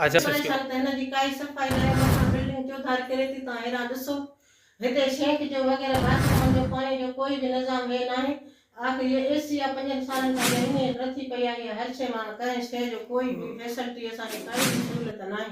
اچھا سچ ڪيو سخت هن جي ڪائي صفائي نه آهي مٿان بلڊنگ چوڌاري ڪري ٿي تان هيران ڏسو هتي سينڪ جو وغيره باٿرومن جو پاڻي جو ڪوئي به نظام هي ناهي آخر هيء اي سي آ پنجن سالن کان جنهن هينئر رٿي پئي آهي يا هر شيء مان ڪنهن شيء جو ڪوئي به فيسلٽي اسان کي ڪائي به سهولت ناهي.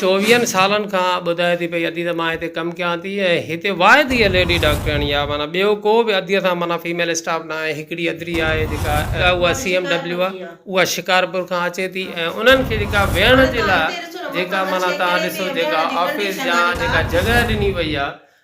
چوويهن سالن کان ٻڌائي ٿي پئي ادي ته مان هتي ڪم ڪيان ٿي ۽ هتي واحد هيء ليڊي ڊاڪٽرياڻي آهي معنيٰ ٻيو ڪو به ادي سان معنيٰ فيميل اسٽاف ناهي هڪڙي ادري آهي جيڪا اها سي ايم ڊبليو آهي اها شڪارپور کان اچي ٿي ۽ انهن کي جيڪا ويهڻ جي لاء جيڪا معنيٰ تهان ڏسو جيڪا آفيس جا جيڪا جڳهه ڏني وئي آهي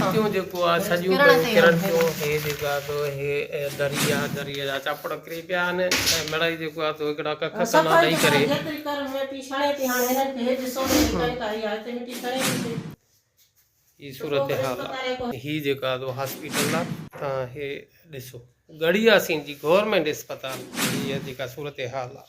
ڀتيون جيڪو آ سڄيون پيون ڪرڻ ٿيون هي جيڪو آ سو هي دري آ دري جا چاپڙ ڪري پيا آهن ۽ مڙئي جيڪو آ سو هڪڙا ڪک سنا ڏئي ڪري جيتري ڪر مٽي ڇڻي ٿي هاڻي هنن کي هي ڏسو ته هي ڪن ڪا هي آ هتي مٽي ڇڻي ٿي پئي هي صورتحال آ هي جيڪو آ سو هاسپيٽل آ تان هي ڏسو ڳڙهياسين جي گورنمينٽ اسپتال جي هي جيڪا صورتحال آ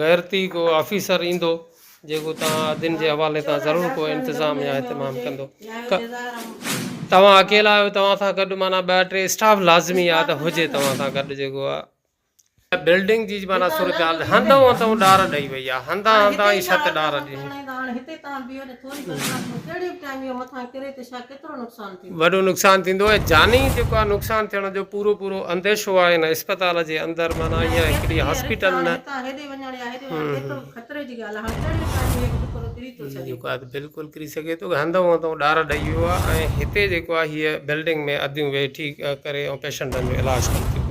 غيرتي ڪو آفيسر ايندو جيڪو توهان ادين جي حوالي تان ضرور ڪو انتظام يا اهتمام ڪندو توهان اڪيلا آهيو توهان سان گڏ معنيٰ ٻه ٽي اسٽاف لازمي آهي ته هجي توهان سان گڏ جيڪو آهي هن بلڊنگ جي معنيٰ صورتحال هنڌئون هنڌئون ڏار ڏئي وئي آهي، هنڌان هنڌان ئي ڇت ڏار ڏني. وڏو نقصان ٿيندو ۽ جاني جيڪو آهي نقصان ٿيڻ جو پورو پورو انديشو آهي هن اسپتال جي اندر معنيٰ اها هڪڙي هاسپيٽل نه جيڪو آهي بلڪل ڪري سگهي ٿو هنڌئون هنڌئون ڏار ڏئي ويو آهي ۽ هتي جيڪو آهي هيء بلڊنگ ۾ اديون ويٺي ڪري ۽ پيشنٽن جو علاج ڪن ٿيون پيون.